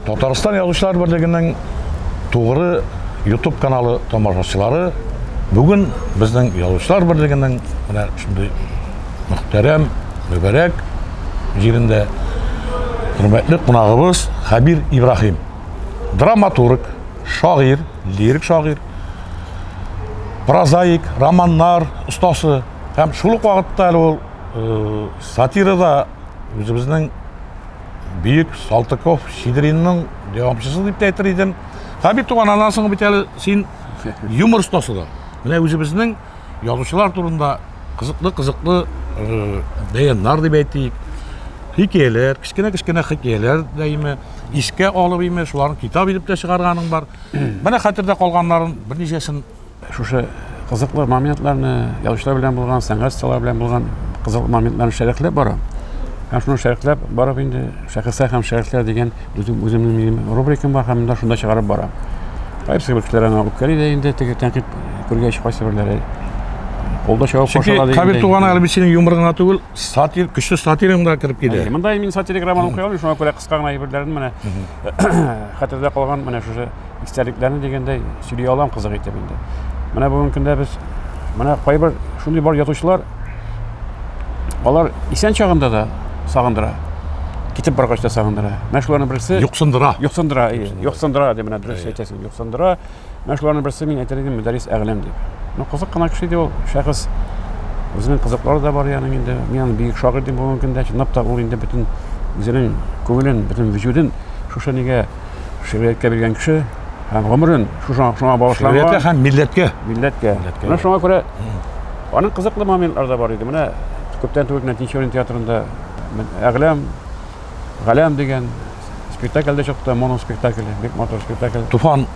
Татарстан язучылар берлегенең тугры YouTube каналы тамашачылары бүген безнең язучылар берлегенең менә шундый мөхтәрәм, мөбәрәк җирендә хөрмәтле кунагыбыз Хәбир Ибраһим. Драматург, шагыйрь, лирик шагыйрь, прозаик, романнар остасы һәм шул ук вакытта әле ул э, сатирада үзебезнең бөек Салтыков Сидринның дәвамчысы дип тә әйтер идем. Һәм бит туган аннан соң бит әле син юмор остасы да. Менә үзебезнең язучылар турында кызыклы-кызыклы э, бәяннар дип әйтик, хикәяләр, кечкенә-кечкенә хикәяләр дә име, искә алып име, шуларны китап итеп тә чыгарганың бар. Менә хәтердә калганнарын берничәсен шушы кызыклы моментларны, язучылар белән булган, сәнгать сталар белән булган кызыклы моментларны шәрехләп барам. Һәм шуны шәрехләп барып инде шәхесләр һәм шәрехләр дигән үзем үземнең рубрикам бар һәм монда шунда чыгарып барам. Кайсы кешеләр аңа үпкәли дә инде теге тәнкыйть күргәч кайсы берләре Олда чавап кошалар дигән. Кабир туганы әлбәттә синең юморыңа түгел, сатир, көчле сатирыңга кереп килә. Монда мин сатирик роман укый алмыйм, шуңа күрә кыска гына әйберләрен менә хәтердә калган менә шушы истәлекләрне дигәндәй сөйли алам кызык итеп инде менә бүгенге көндә без менә кайбер шундый бар язучылар алар исән чагында да сагындыра китеп баргач та сагындыра менә шуларның берсе юксындыра юксындыра юксындыра дип менә дөрес әйтәсең юксындыра Менә шуларның берсе мин әйтер идем Мөдәррис Әгъләм дип. Ну кызык кына кеше иде ул шәхес. Үзенең кызыклары да бар яның инде. Мин аны бөек шагыйрь дип бүгенге көндә чынлап та ул инде бөтен үзенең күңелен, бөтен вөҗүден шушы нигә шигърияткә биргән кеше һәм гомерен шушы шуңа багышлаган. Шигърияткә һәм милләткә. Милләткә. Менә шуңа күрә аның кызыклы моментлары да бар иде. Менә күптән түгел генә Тинчурин театрында Әгъләм, Галәм дигән Спектакль дә чыкты, моноспектакль, бик матур спектакль. Туфан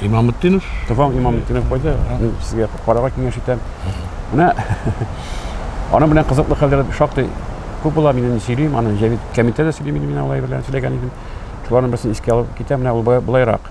Имамутдинов. Туфан Имамутдинов койды. Мин сезгә карарга киңәш итәм. Менә аның белән кызыклы хәлләр шактый күп була. Мин инде сөйлим, аны Җәвит Кәмитә дә сөйли, мин алай белән сөйләгән идем. Шуларның берсен искә алып китәм, менә ул былайрак.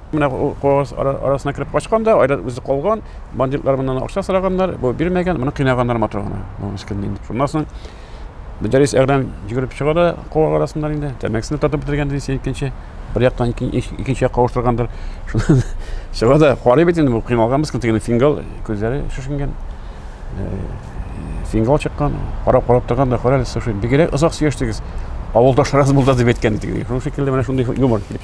Менә куагыз арасына кереп качкан да, айрат үзе калган. Бандитлар моннан акча сораганнар, бу бирмәгән, моны кыйнаганнар матур гына. Бу мискин инде. Шуннан соң Мөдәррис Әгрәм йөгереп чыга да куак арасыннан инде. Тәмәкесен татып бетергән ди син икенче. Бер яктан икенче якка авыштыргандыр. Шуннан чыга да карый бит инде бу кыйналган мискин тегене фингал күзләре шешенгән. Э, фингал чыккан, карап карап торган да карале, слушай, бигрәк озак сөйләштегез. Авылдашларыгыз булды дип әйткән идегез. Шуның шикелле менә шундый юмор килеп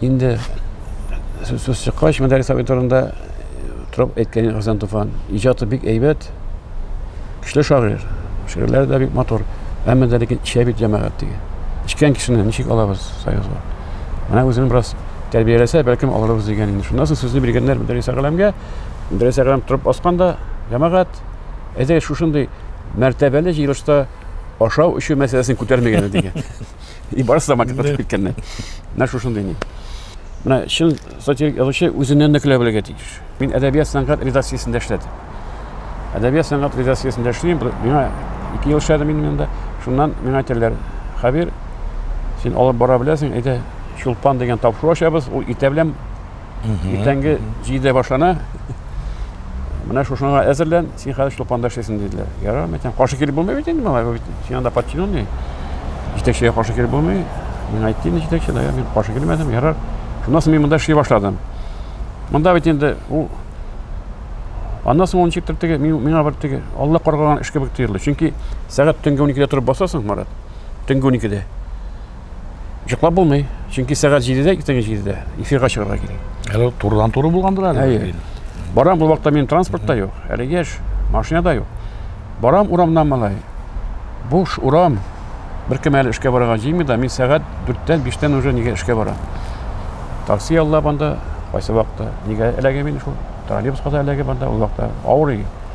Инде сүз чыккач, мәдәрис абый турында торып әйткән Хәсән Туфан. Иҗаты бик әйбәт, көчле шагыйрь, шигырьләре дә бик матур. Әмма дә ләкин эчә бит җәмәгать диге. Эчкән кешене ничек алабыз союзга? Менә үзен бераз тәрбияләсә, бәлкем алырбыз дигән инде. Шуннан соң сүзне биргәннәр Мөдәррис Әгъләмгә. Мөдәррис Әгъләм торып басканда, җәмәгать, әйдәгез шушындый мәртәбәле җыелышта ашау-эчү мәсьәләсен күтәрмәгән идек. И барысы да макет атып киткәннәр. Менә шушындый ни. Менә чын сатирик язучы үзеннән дә көлә белергә тиеш. Мин әдәбият сәнгать редакциясендә эшләдем. Әдәбият сәнгать редакциясендә эшлим. Миңа ике ел эшләдем мин монда. Шуннан миңа әйтәләр, Хәбир, син алып бара беләсең, әйдә, чулпан дигән тапшыру ачабыз, ул итә белән Иртәнге җидедә башлана. Менә шушыңа әзерлән, син хәзер чулпанда эшләйсең диделәр. Ярар, мәйтәм, каршы килеп булмый бит инде моңа, бит син анда подчиненный. Җитәкчегә каршы килеп булмый. Мин әйттем инде җитәкче, да, мин каршы килмәдем, ярар. Шуннан соң мин монда эшли башладым. Монда бит инде ул Аннан соң ул ничектер теге миңа бер теге Алла каргаган эш кебек тоелды. Чөнки сәгать төнге 12-дә торып басасың, Марат. Төнге 12-дә. Йоклап булмый. Чөнки сәгать 7-дә, иртәнге 7-дә эфирга чыгарга кирәк. Әле турыдан туры булгандыр әле. Әйе. Барам бу вакытта минем транспорт та юк, әле яшь, машина да юк. Барам урамнан малай. Буш урам. Беркем әле эшкә барырга җыймый да, мин сәгать 4-тән 5-тән уже нигә эшкә барам. Такси яллап анда, кайсы вакытта нигә эләгә мин шул. Троллейбуска да эләгә банда, ул вакытта авырый.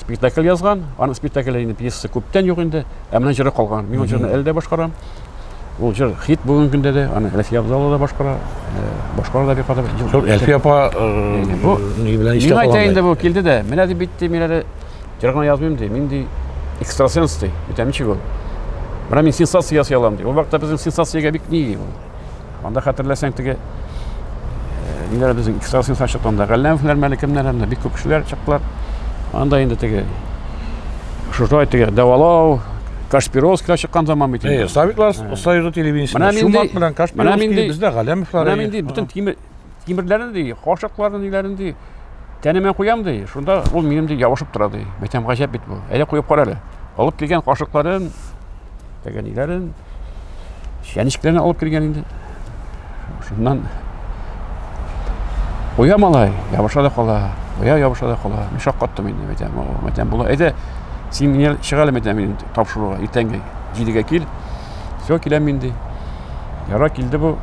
спектакль язган, аның спектакле инде пьеса күптән юк инде, ә менә җыры калган. Мин ул җырны әле дә башкарам. Ул җыр хит бүгенге көндә дә, аны Әлфия абзалы да башкара, э, башкара да бик кадәр. Шул Әлфия апа э, бу ни белән эштә калган. Мин әйтә инде бу килде дә, менә дип битте, мин әле җыр гына язмыйм ди, мин ди экстрасенс ди, битәмче ул. Менә мин сенсация ясый алам ди. Ул вакытта безнең сенсациягә бик ни ул. Анда хәтерләсәң теге ниләр безнең экстрасенслар чыкты анда Галләмовлар мәле кемнәр анда бик күп кешеләр чыктылар. Анда инде теге шушай теге дәвалау Кашпировскийга чыккан заман бит инде. Э, Сабитлар союзы телевидениесендә Чумак белән Кашпировский бездә Галләмовлар. Менә инде бөтен тимер Тимерләрне ди, кашыкларны ниләрен ди, тәнемә куям ди, шунда ул минем ди ябышып тора ди. Мәйтәм гаҗәп бит бу. Әйдә куеп кара әле. Алып килгән кашыкларын, тәгәниләрен, чәнечкеләрен алып килгән инде. Шуннан куя малай, ябыша да кала, куя ябыша да кала. Мин шаккаттым инде, мәйтәм, мәйтәм була. Әйдә, син мине чыгар әле мәйтәм, тапшыруга, иртәнге җидегә кил. Все, киләм мин ди. Яра килде бу.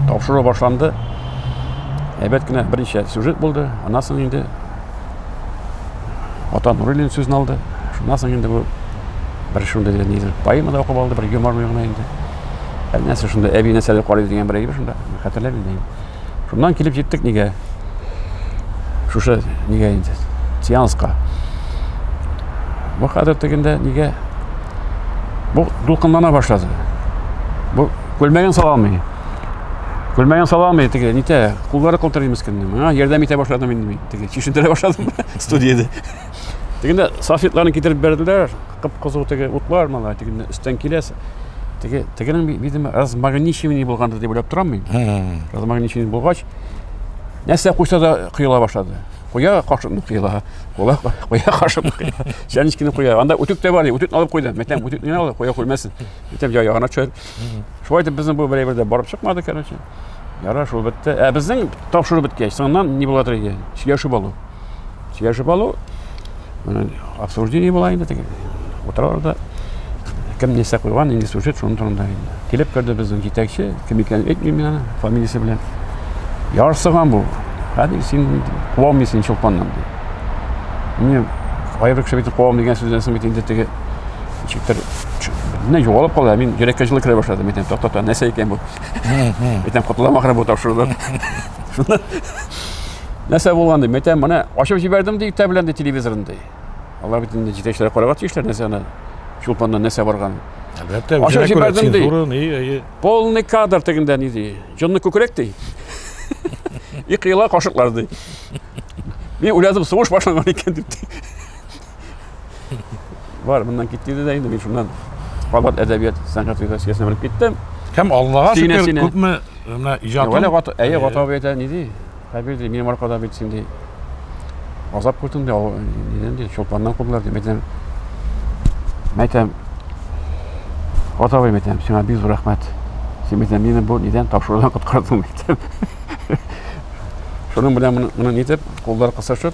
Тапшыру башланды. Әйбәт кенә берничә сюжет булды. Аннан соң инде Ата Нуруллин сүзен алды. Шуннан соң инде бу бер шундый дигән нидер поэма да укып алды, бер юмор гына инде. Әллә нәрсә шунда әби нәрсәләр карый дигән бер әйбер шунда. Хәтерләмим инде. Шуннан килеп җиттек нигә? Шушы нигә инде? Сеанска. Бу хәзер тегендә нигә? Бу дулкынлана башлады. Бу күлмәген сала алмый. Күлмәген сала алмый теге, нитә? Куллары калтырый мискиннең. Миңа ярдәм итә башладым инде мин. Теге чишендерә башладым студияда. Дигәндә, салфетларны китереп бирделәр, кып-кызыл теге утлар мала, дигәндә, өстән киләс. Теге тегенең видимо размагничивание булгандыр дип уйлап торам мин. Размагничивание булгач, нәрсә куйса да кыела башлады. Куя кашыкны кыела, куя куя кашыкны кыела. Чәнечкене куя. Анда үтүк тә бар, үтүкне алып куйды. Мәтәм үтүкне алып куя күрмәсен. Мәтәм ягына төшер. Шулай итеп безнең бу берәйбер дә барып чыкмады, короче. Яра шул бетте. Ә безнең тапшыру беткәч, соңыннан ни була торган икән? Сөйләшеп алу. Сөйләшеп алу. Обсуждение була инде теге. Утыралар да кем нәрсә куйган, нинди сюжет, шуның турында инде. Килеп керде безнең җитәкче, кем икәнен әйтмим мин аны, фамилиясе белән. Ярсыган бу. Хәзер син куа алмыйсың чулпаннан. Мин аерым кеше бит куа алмыйм дигән сүздән соң бит инде теге ничектер менә югалып кала мин йөрәккә җылы керә башлады әйтәм тукта тукта нәрсә икән бу әйтәм котылам ахры бу тапшырудан шуннан нәрсә булган дим әйтәм менә ачып җибәрдем ди иртә белән ди телевизорын ди алар бит инде җитәкчеләр карарга тиешләр нәрсә аны чулпаннан нәрсә барганын әлбәттә ачып җибәрдем ди полный кадр тегендә ни ди җонны күкрәк ди и кыела кашыклар ди мин уйладым сугыш башланган икән дип Бар, моннан кит диде дә инде мин шуннан кабат әдәбият сәнгать редакциясенә менеп киттем. Һәм Аллага Сине, шөкер, сине. күпме э, менә иҗатым. Вәлә гата, әйе, Э, гата әйтә, ни ди? Хәбир ди, минем аркада бит син ди. Азап күрдең ди, ау- нидән ди, чулпаннан кудылар ди. Мәйтәм, мәйтәм, гата абый мәйтәм, сиңа бик зур рәхмәт. Син мәйтәм, мине бу нидән тапшырудан коткардың мәйтәм. Шуның белән моны, моны нитеп, куллар кысышып,